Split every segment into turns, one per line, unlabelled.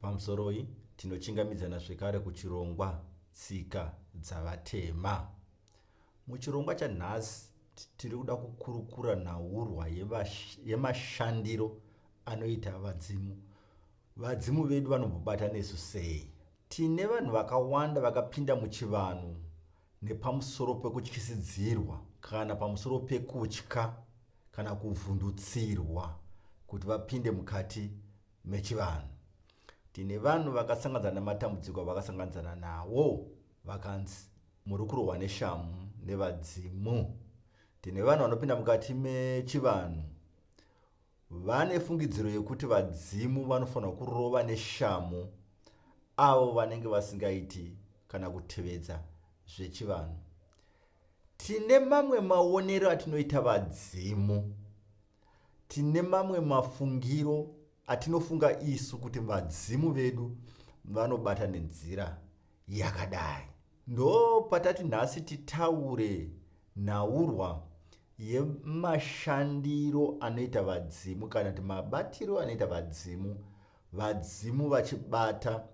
Pamusoroi tinochingamidzana zvekare kuchirongwa tsika dzavatema. Muchirongwa chanhasi tiri kuda kukurukura nhaurwa yemashandiro anoita vadzimu. Vadzimu vedu vanombobata nesu sei? Tine vanhu vakawanda vakapinda muchivanhu nepamusoro pekutyisidzirwa kana pamusoro pekutya kana kuvhundutsirwa kuti vapinde mukati mechivanhu. Tine vanhu vakasanganidzana nematambudziko avakasanganidzana nawo vakanzi muri kurohwa neshamu nevadzimu. Tine vanhu vanopinda mukati mechivanhu vane fungidziro yekuti vadzimu vanofanira kurova neshamu avo vanenge vasingaiti kana kutevedza zvechivanhu tine mamwe maonero atinoita vadzimu Tine mamwe mafungiro atinofunga isu kuti vadzimu vedu vanobata nenzira yakadai. Ndo patati nhasi titaure nhaurwa yemashandiro anoita vadzimu kana kuti mabatiro anoita vadzimu, vadzimu vachibata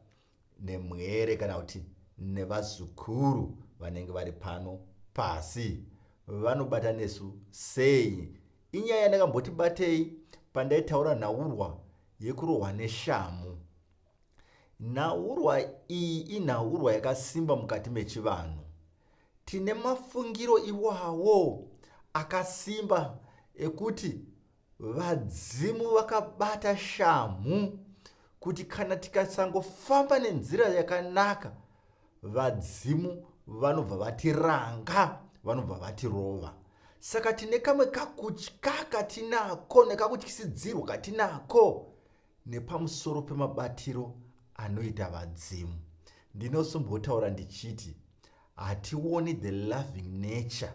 nemwere kana kuti nevazukuru vanenge vari pano pasi vanobata nesu sei inyaya yandakamboti batei pandaitaura nhaurwa yekurohwa neshamu nhaurwa iyi inhaurwa yakasimba mukati mechivanhu tine mafungiro iwawo akasimba ekuti Vadzimu vakabata shamhu kuti kana tikasangofamba nenzira yakanaka vadzimu vanobva vatiranga vanobva vatirova saka tine kamwe kakutya katinako nekakutyisidzirwa katinako nepamusoro pemabatiro anoita vadzimu ndinosombotaura ndichiti hationi the loving nature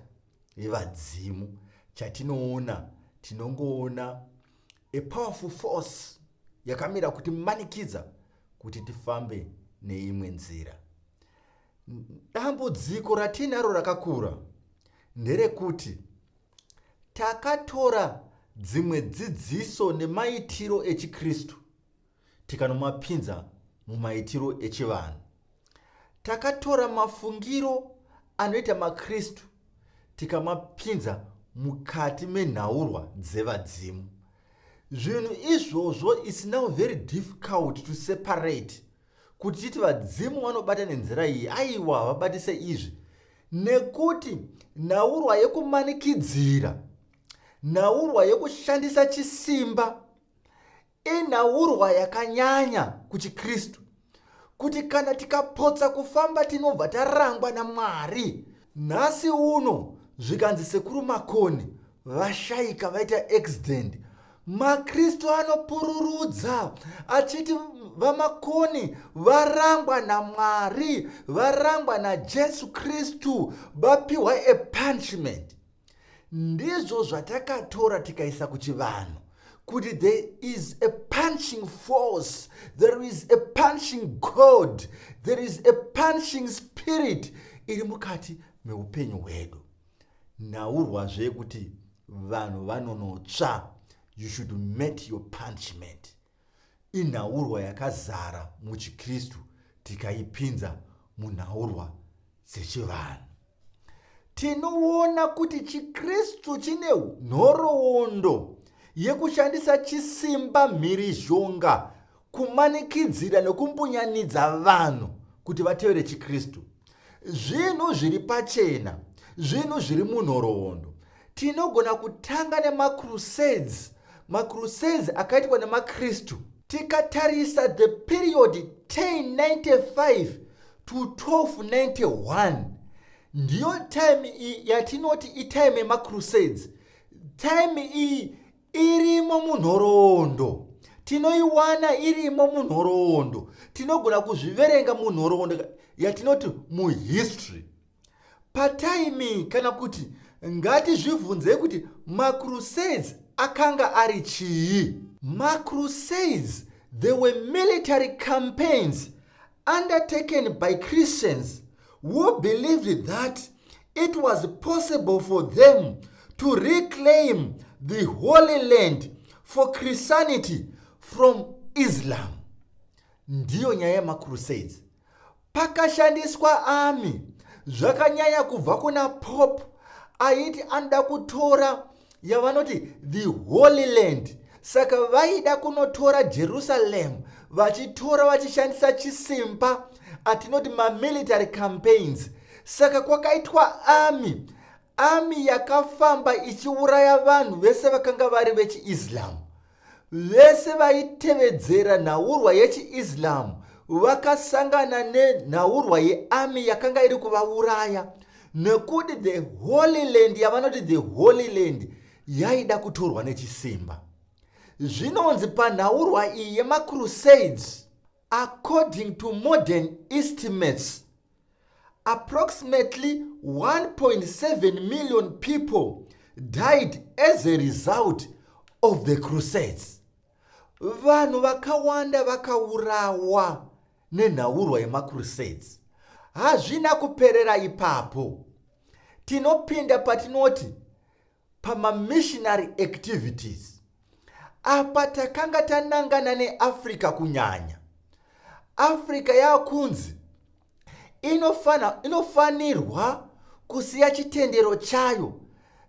yevadzimu chatinoona tinongoona a powerful force yakamira kuti manikidza kuti tifambe neimwe nzira dambudziko ratiinaro rakakura nderekuti takatora dzimwe dzidziso nemaitiro echikristu tikanomapinza mumaitiro echivanhu. Takatora mafungiro anoita maKristu tikamapinza mukati menhaurwa dzevadzimu. Zvinhu izvozvo is now very difficult to separate kuti titi vadzimu vanobata nenzira iyi aiwa havabatise izvi nekuti nhaurwa yekumanikidzira nhaurwa yekushandisa chisimba Inhaurwa yakanyanya kuchiKristu kuti kana tikapotsa kufamba tinobva tarangwa naMwari. Nhasi uno zvikanzi Sekuru Makoni vashaika vaita accident, maKristu anopururudza achiti vamakoni varangwa naMwari, varangwa naJesu Kristu, vapiwa a punishment. ndizvo zvatakatora tikaisa kuchivanhu kuti there is a punching force there is a punching god there is a punching spirit iri mukati meupenyu hwedu nhaurwazve kuti vanhu vanonotsva you should met your punishment inhaurwa yakazara muchiKristu tikaipinza munhaurwa dzechivanhu. Tinoona kuti chiKristu chine nhoroondo yekushandisa chisimba mhirizhonga kumanikidzira nokumbunyanidza vanhu kuti vatevere chiKristu. Zvinhu zviri pachena, zvinhu zviri munhoroondo, tinogona kutanga nemacrusades macrusades akaitwa nemakristu tikatarisa the period 1095 to 1291 ndiyo time iyi yatinoti itime yemacrusades time iyi irimo munhoroondo tinoiwana irimo munhoroondo tinogona kuzviverenga munhoroondo yatinoti muhistory Pataiming kana kuti ngatizvibvunzei kuti macrusades akanga ari chii? Macrusades they were military campaigns undertaken by Christians who believed that it was possible for them to reclaim the Holy Land for Christianity from Islam. Ndiyo nyaya yemacrusades. Pakashandiswa ami zvakanyanya kubva kuna Pope aiti anoda kutora yavanoti the holy land saka vaida kunotora jerusalem vachitora vachishandisa chisimba atinoti mamilitary campaigns saka kwakaitwa ami ami yakafamba ichiuraya vanhu vese vakanga vari vechiislam Vese vaitevedzera nhaurwa yechiIslam vakasangana nenhaurwa yeArmy yakanga iri kuvauraya nekuti the Holy Land yavanoti the Holy Land yaida kutorwa nechisimba. Zvinonzi panhaurwa iyi yemaCrusades, according to modern estimates, Approximately 1.7 million people died as a result of the crusades. Vanhu vakawanda vakaurawa nenhaurwa yemacrusades. Hazvina kuperera ipapo. Tinopinda patinoti pamamissionary activities apa takanga tanangana neafrica kunyanya africa yakunzi inofanirwa kusiya chitendero chayo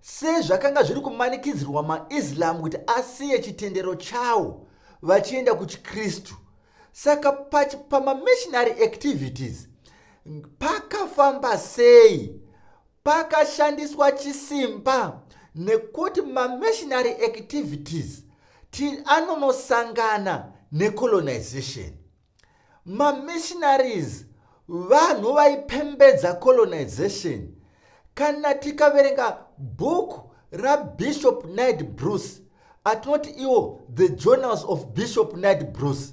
sezvakanga zviri kumanikidzirwa maislam kuti asiye chitendero chawo vachienda kuchikristu saka pamamissionary activities pakafamba sei Pakashandiswa chisimba nekuti mamissionary activities anonosangana necolonization. Mamissionaries vanhu vaipembedza colonization. Kana tikaverenga bhuku rabishop night bruce atinoti iwo the journals of bishop night bruce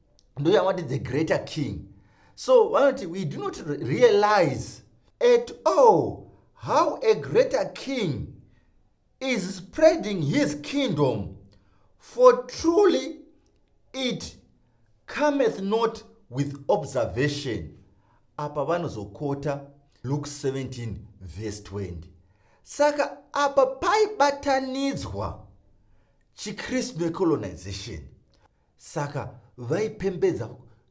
ndoyavati the greater king so vanoti we do not realize at all how a greater king is spreading his kingdom for truly it cometh not with observation apa vanozokota luke 17 vese 20 saka apa paibatanidzwa chikristu necolonization saka vaipembedza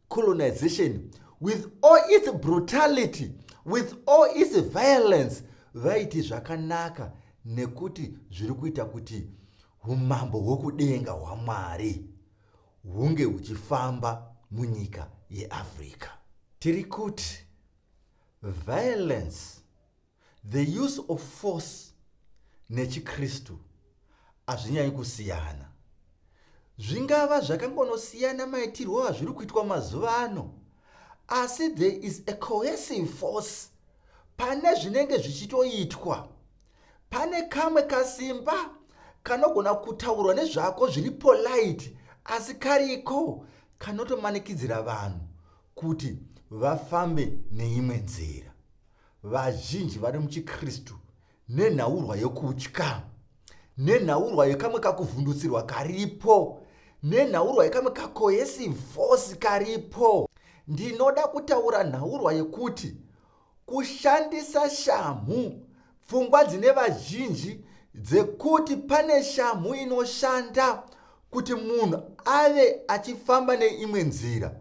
colonization with all its brutality with all its violence vaiti zvakanaka nekuti zviri kuita kuti umambo hwokudenga hwamwari hunge huchifamba munyika yeafrica tiri kuti violence The use of force nechiKristu hazvinyanyi kusiyana. Zvingava zvakangonosiyana maitirwo azviri kuitwa mazuva ano, asi there is a cohesive force pane zvinenge zvichitoitwa. Pane kamwe kasimba kanogona kutaurwa nezvako zviri polite, asi kariko kanotomanikidzira vanhu kuti vafambe neimwe nzira. vazhinji vari muchiKristu nenhaurwa yokutya, nenhaurwa yekamwe kakuvhundutsirwa karipo, nenhaurwa yekamwe kakohesivosi karipo. Ndinoda kutaura nhaurwa yekuti kushandisa shamhu, pfungwa dzine vazhinji dzekuti pane shamhu inoshanda kuti munhu ave achifamba neimwe nzira.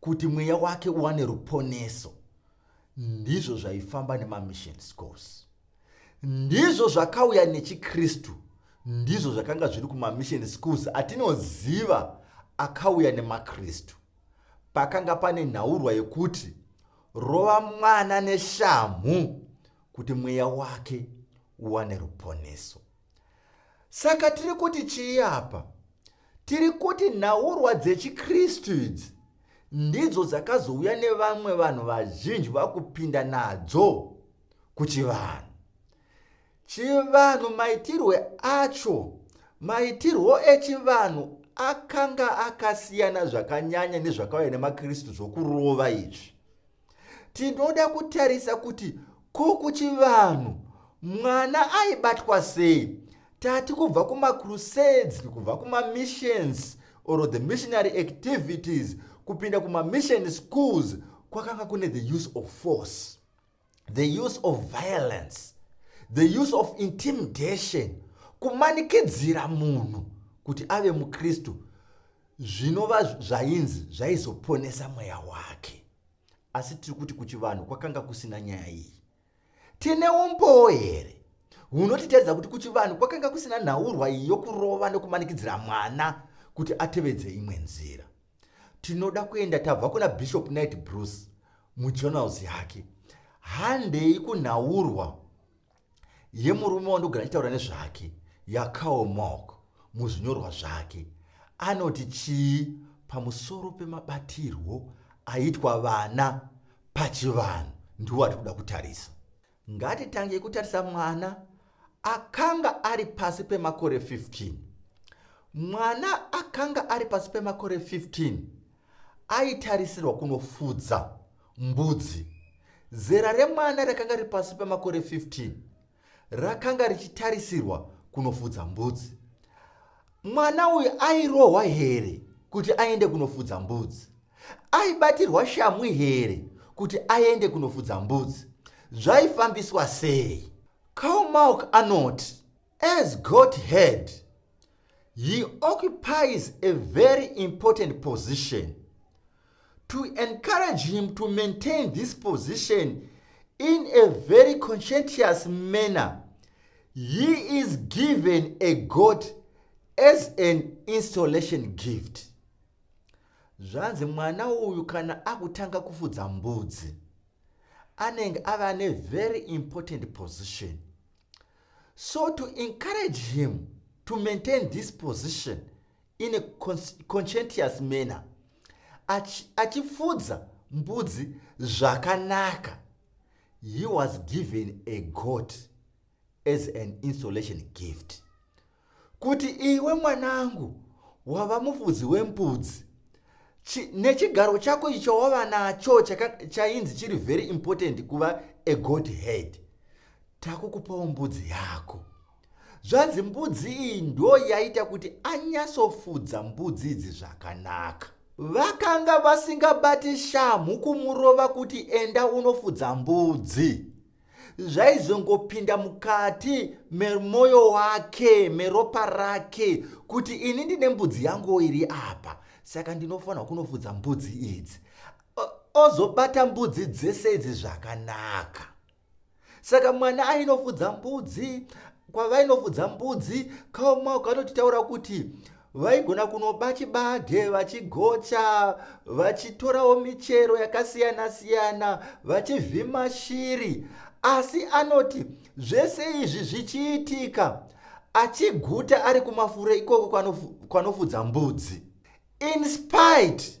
kuti mweya wake uwane ruponeso ndizvo zvaifamba nemamission scores ndizvo zvakauya nechikristu ndizvo zvakanga zviri kumamission schools atinoziva akauya nemakristu pakanga pane nhaurwa yekuti rova mwana neshamhu kuti mweya wake uwane ruponeso Saka tiri kuti chii apa? Tiri kuti nhaurwa dzechiKristu idzi ndidzo dzakazouya nevamwe vanhu vazhinji vakupinda nadzo kuchivanhu. Chivanhu maitirwe acho, maitirwo echivanhu akanga akasiyana zvakanyanya nezvakauya nemaKristu zvokurova izvi. tinoda kutarisa kuti ko kuchivanhu mwana aibatwa sei tati kubva kumacrusades kubva kumamissions or the missionary activities kupinda kumamission schools kwakanga kune the use of force the use of violence the use of intimidation kumanikidzira munhu kuti ave mukristu zvinova zvainzi zvaizoponesa mweya wake asi tiri kuti kuchivanhu kwakanga kusina nyaya iyi tine umbowo here hunotitaridza kuti kuchivanhu kwakanga kusina nhaurwa iyi yokurova nokumanikidzira mwana kuti atevedze imwe nzira tinoda kuenda tabva kuna bishop night bruce mujournals yake handei kunhaurwa yemurume wandogara achitaura nezvake yakaomok muzvinyorwa zvake anoti chii pamusoro pemabatirwo aitwa vana pachivanhu ndiwo ati kuda kutarisa ngatitangei kutarisa mwana akanga ari pasi pemakore 15 mwana akanga ari pasi pemakore 15 aitarisirwa kunofudza Mbudzi. Zera remwana rakanga riri pasi pemakore 15 rakanga richitarisirwa kunofudza mbudzi. Mwana uyu airohwa here kuti aende kunofudza mbudzi? Aibatirwa shamhu here kuti aende kunofudza mbudzi? Zvaifambiswa sei? Karl Malk anoti, As God head, he occupies a very important position to encourage him to maintain this position in a very conscientious manner he is given a god as an installation gift zvanzi mwana uyu kana akutanga kufudza mbudzi anenge ava nevery important position so to encourage him to maintain this position in a conscientious manner achifudza mbudzi zvakanaka he was given a goat as an installation gift kuti iwe mwanangu wava mufudzi wembudzi nechigaro chako icho wava nacho chainzi chiri very important kuva a god head takukupawo mbudzi yako Zvanzi mbudzi iyi ndo yaita kuti anyasofudza mbudzi idzi zvakanaka. Vakanga vasingabati shamhu kumurova kuti enda unofudza mbudzi. Zvaizongopinda mukati memoyo wake, meropa rake kuti ini ndine mbudzi yangu iri apa, saka ndinofanirwa kunofudza mbudzi idzi. Ozobata mbudzi dzese idzi zvakanaka. saka mwana ainofudza mbudzi kwavainofudza mbudzi kaumaoko anotitaura kuti vaigona kunoba chibage vachigocha vachitorawo michero yakasiyana siyana vachivhima shiri asi anoti zvese izvi zvichiitika achiguta ari kumafuro ikoko kwanofudza mbudzi inspite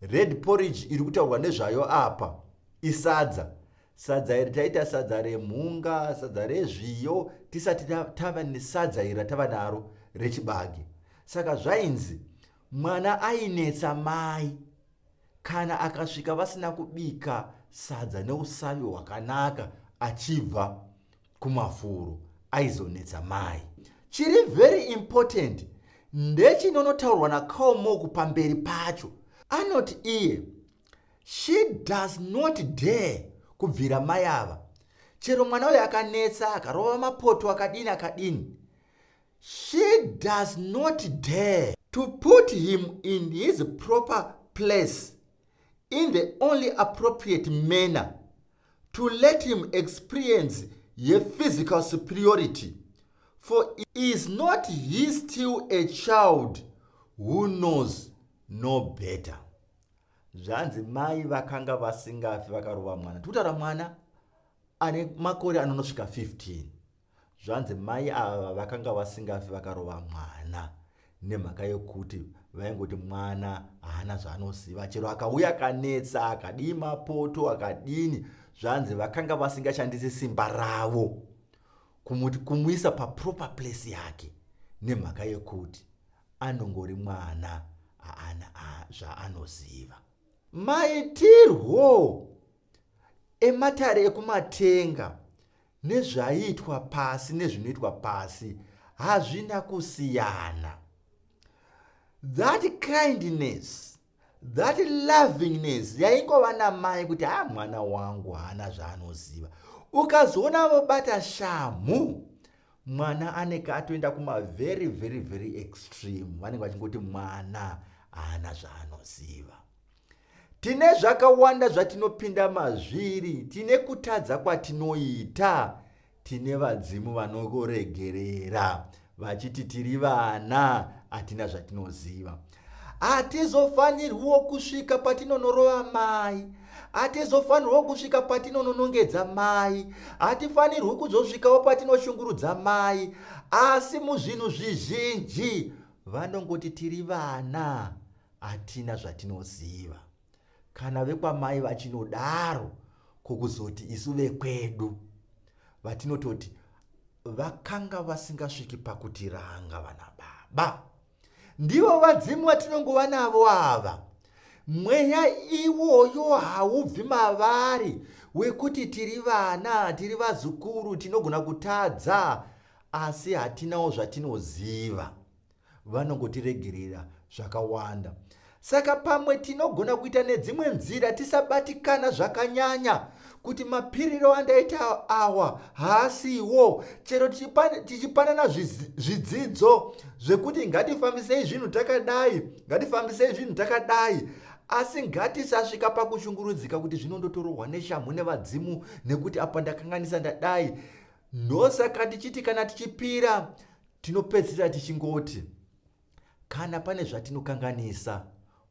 Red porridge iri kutaurwa nezvayo apa isadza. Sadza iri taita sadza remhunga, sadza rezviyo, tisati tava nesadza iri ratava naro rechibage. Saka zvainzi mwana ainetsa mai kana akasvika vasina kubika sadza neusavi hwakanaka achibva kumafuro aizonetsa mai chiri very important ndechinonotaurwa nacomoku pamberi pacho anoti iye she does not dare kubvira mai ava chero mwana uyo akanetsa akarova mapoto akadini akadini she does not dare to put him in his proper place in the only appropriate manner to let him experience yephysical superiority for is not he still a child who knows no better zvanzi mai vakanga vasingafi vakarova mwana tikutaura mwana ane makore anonosvika 15 Zvanzi mai ava vakanga vasingafi vakarova mwana nemhaka yekuti vaingoti mwana haana zvaanoziva chero akauya akanetsa akadii mapoto akadini zvanzi vakanga vasingashandisi simba ravo kumuti kumuisa paproper place yake nemhaka yekuti anongori mwana haana zvaanoziva maitirwo ematare ekumatenga Nezvaiitwa pasi nezvinoitwa pasi hazvina kusiyana. That kindness, that lovingness yaingova namai kuti ha ah, mwana wangu haana zvaanoziva. Ukazoona vobata shamhu mwana aneke atoenda kuma very very very extreme vanenge vachingoti mwana haana zvaanoziva. Tine zvakawanda zvatinopinda mazviri, tine kutadza kwatinoita, tine vadzimu vanoregerera vachiti tiri vana hatina zvatinoziva. Hatizofanirwiwo kusvika patinonorova mai, hatizofanirwo kusvika patinononongedza mai, hatifanirwi kuzosvikawo patinoshungurudza mai, asi muzvinhu zvizhinji vanongoti tiri vana hatina zvatinoziva kana vekwamai vachinodaro kokuzoti isu vekwedu vatinototi vakanga vasingasviki pakutiranga vana baba ndivo vadzimu vatinongova navo ava mweya iwoyo haubvi mavari wekuti tiri vana tiri vazukuru tinogona kutadza asi hatinawo zvatinoziva vanongotiregerera zvakawanda. Saka pamwe tinogona kuita nedzimwe nzira tisabatikana zvakanyanya kuti mapiriro andaita awa haasiwo chero tichipanana zvidzidzo zvekuti ngatifambisei zvinhu takadai ngatifambisei zvinhu takadai asi ngatisasvika pakushungurudzika kuti zvino ndotorohwa neshamhu nevadzimu nekuti apa ndakanganisa ndadai ndosaka tichiti kana tichipira Tinopedzisira tichingoti kana pane zvatinokanganisa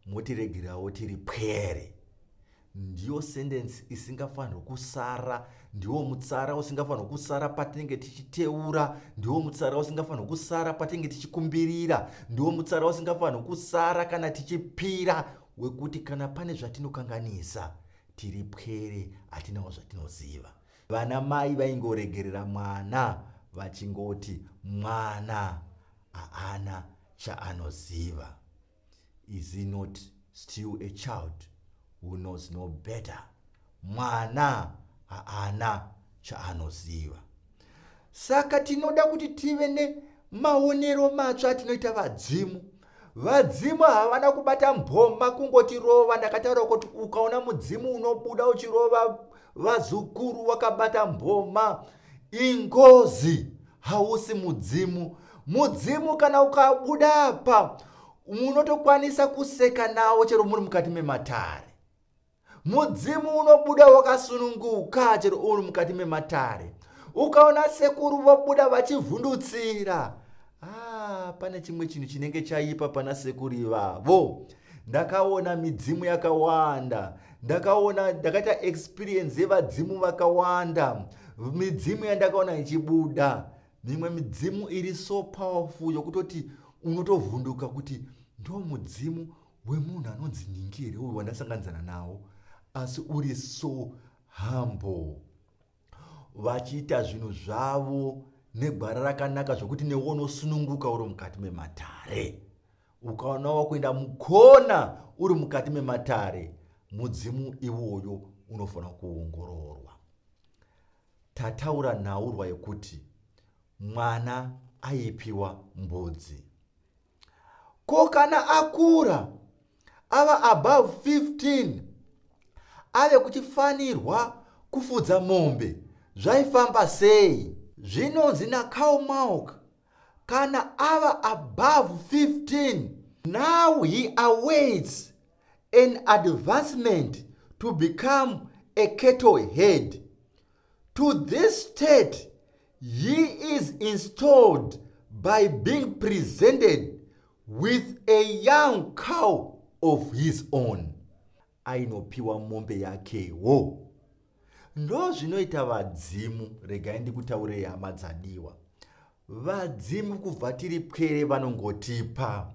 motiregerawo tiri pwere. Ndiyo sendensi isingafanirwe kusara, ndiwo mutsara usingafanirwe kusara patinenge tichiteura, ndiwo mutsara usingafanirwe kusara patinenge tichikumbirira, ndiwo mutsara usingafanirwe kusara kana tichipira wekuti kana pane zvatinokanganisa tiri pwere, hatinawo zvatinoziva. vana mai vaingoregerera mwana vachingoti mwana haana chaanoziva is he not still a child who knows no better mwana haana chaanoziva saka tinoda kuti tive nemaonero matsva atinoita vadzimu Vadzimu havana kubata mboma kungotirova ndakataura kuti ukaona mudzimu unobuda uchirova vazukuru wakabata mboma ingozi hausi mudzimu mudzimu kana ukabuda apa munotokwanisa kuseka nawo chero muri mukati mematare mudzimu unobuda wakasununguka chero uri mukati mematare ukaona sekuru vobuda vachivhundutsira ah, pane chimwe chinhu chinenge chaipa pana sekuru ivavo ndakaona midzimu yakawanda ndakaona ndakaita experience yevadzimu vakawanda midzimu yandakaona ichibuda mimwe midzimu iri so powerful yokutoti unotovhunduka kuti ndo mudzimu wemunhu anonzi nhingi here uyu wandasanganidzana nawo asi uri so humble vachiita zvinhu zvavo negwara rakanaka zvokuti newo unosununguka uri mukati mematare ukaona wakuenda mukona uri mukati mematare mudzimu iwoyo unofanira kuongororwa tataura nhaurwa yekuti mwana aipiwa mbudzi Ko kana akura ava above 15 ave kuchifanirwa kufudza mombe zvaifamba sei? Zvinonzi naCarl Malk kana ava above 15 now he awaits an advancement to become a cattle head To this state he is installed by being presented with a young cow of his own ainopiwa mombe yakewo ndozvinoita vadzimu regai ndikutaurei hama dzadiwa vadzimu kubva tiri pwere vanongotipa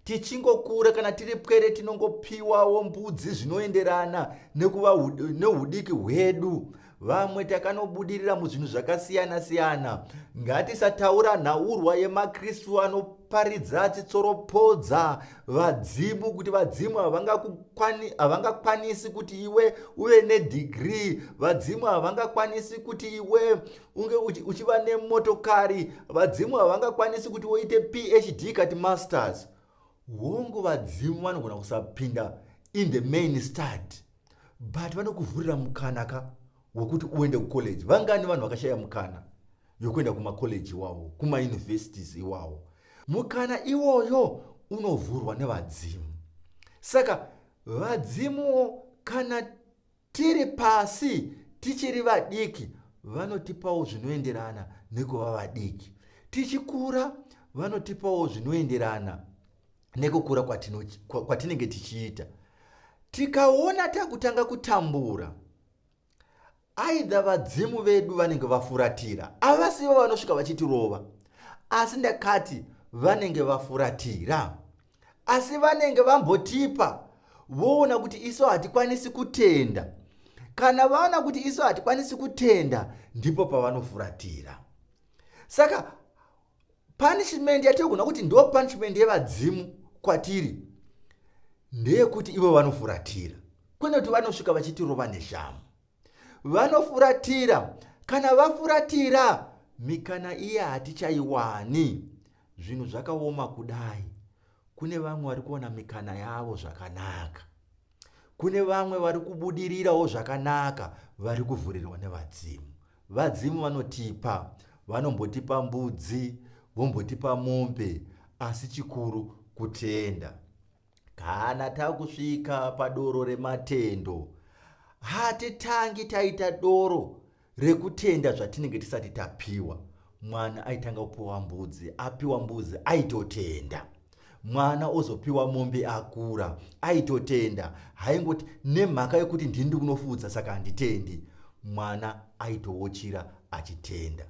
tichingokura kana tiri pwere tinongopiwawo mbudzi zvinoenderana nekuva neudiki hwedu vamwe takanobudirira muzvinhu zvakasiyana siyana ngatisataura nhaurwa yemakristu anoparidza achitsoropodza vadzimu kuti vadzimu havangakwanisi kuti iwe uve nedhigrii vadzimu havangakwanisi kuti iwe unge uchiva nemotokari vadzimu havangakwanisi kuti woite phd kati masters hongu vadzimu vanogona kusapinda in the main stad but vanokuvhurira mukana ka wekuti uende kucollege vangani vanhu vakashaya mukana yokuenda kumacollege iwawo kumauniversities iwawo mukana iwoyo unovhurwa nevadzimu saka vadzimuwo kana Tiri pasi tichiri vadiki vanotipawo zvinoenderana nekuva vadiki. Tichikura vanotipawo zvinoenderana nekukura kwatinenge tichiita. Tikaona takutanga kutambura aidha vadzimu vedu vanenge vafuratira avasivo vanosvika vachitirova asi ndakati vanenge vafuratira asi vanenge vambotipa voona kuti isu hatikwanisi kutenda kana vaona kuti isu hatikwanisi kutenda ndipo pavanofuratira saka punishment yatiri kuona kuti ndo punishment yevadzimu kwatiri ndeyekuti ivo vanofuratira kwene kuti vanosvika vachitirova neshamu vanofuratira kana vafuratira mikana iya hatichaiwani zvinhu zvakaoma kudai kune vamwe vari kuona mikana yavo zvakanaka kune vamwe vari kubudirirawo zvakanaka vari kuvhurirwa nevadzimu vadzimu vanotipa vanombotipa mbudzi vombotipa mombe asi chikuru kutenda Kana takusvika padoro rematendo, hatitangi taita doro rekutenda zvatinenge tisati tapiwa. Mwana aitanga kupiwa mbudzi, apiwa mbudzi aitotenda. Mwana ozopiwa mombe akura, aitotenda. Haingoti nemhaka yokuti ndini ndikunofudza saka handitendi. Mwana aitowochira achitenda.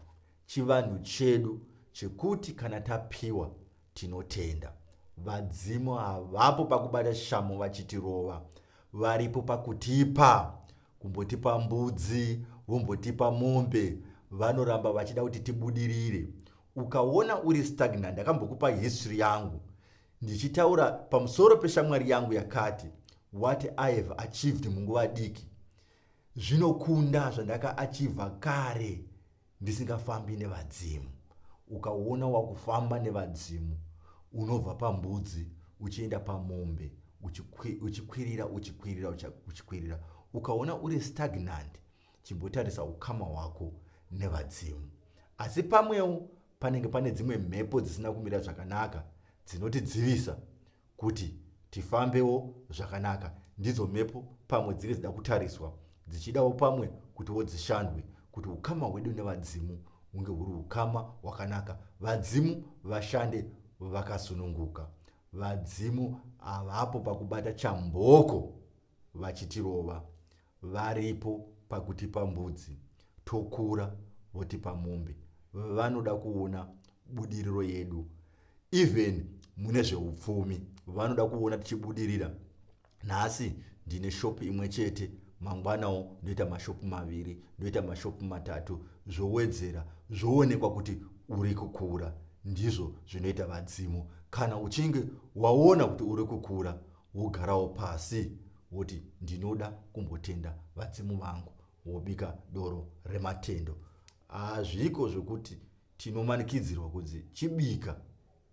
Chivanhu chedu chekuti kana tapiwa Tinotenda. Vadzimu havapo pakubata shamhu vachitirova. Varipo pakutipa. Kumbotipa mbudzi, vombotipa mombe. Vanoramba vachida kuti tibudirire. Ukaona uri stagnant, ndakambokupa history yangu. Ndichitaura pamusoro peshamwari yangu yakati, what I have achieved munguva diki. Zvinokunda zvandaka achiever kare. ndisingafambi nevadzimu ukaona wakufamba nevadzimu unobva pambudzi uchienda pamombe uchikwirira uchikwirira uchikwirira ukaona uri stagnant chimbotarisa ukama hwako nevadzimu asi pamwewo panenge pane dzimwe mhepo dzisina kumira zvakanaka dzinotidzivisa kuti tifambewo zvakanaka ndidzo mhepo pamwe dzinge dzida kutariswa dzichidawo pamwe kutiwo dzishandwe kuti ukama hwedu nevadzimu hunge huri ukama hwakanaka vadzimu vashande vakasununguka vadzimu havapo pakubata chamboko vachitirova Varipo pakutipa mbudzi tokura votipa mombe vanoda kuona budiriro yedu even mune zveupfumi vanoda kuona tichibudirira nhasi ndine shopu imwe chete mangwanawo ndoita mashopu maviri ndoita mashopu matatu zvowedzera zvoonekwa kuti uri kukura ndizvo zvinoita vadzimu kana uchinge waona kuti uri kukura wogarawo pasi woti ndinoda kumbotenda vadzimu vangu wobika doro rematendo hazviko zvekuti tinomanikidzirwa kunzi chibika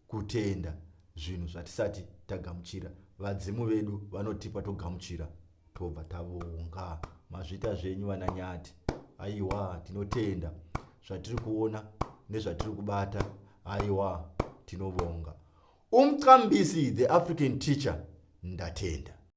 kutenda zvinhu zvatisati tagamuchira vadzimu vedu vanotipa togamuchira tobva tavonga mazvita zvenyu vananyati aiwa tinotenda zvatiri kuona nezvatiri kubata aiwa tinobonga umqambisi the african teacher ndatenda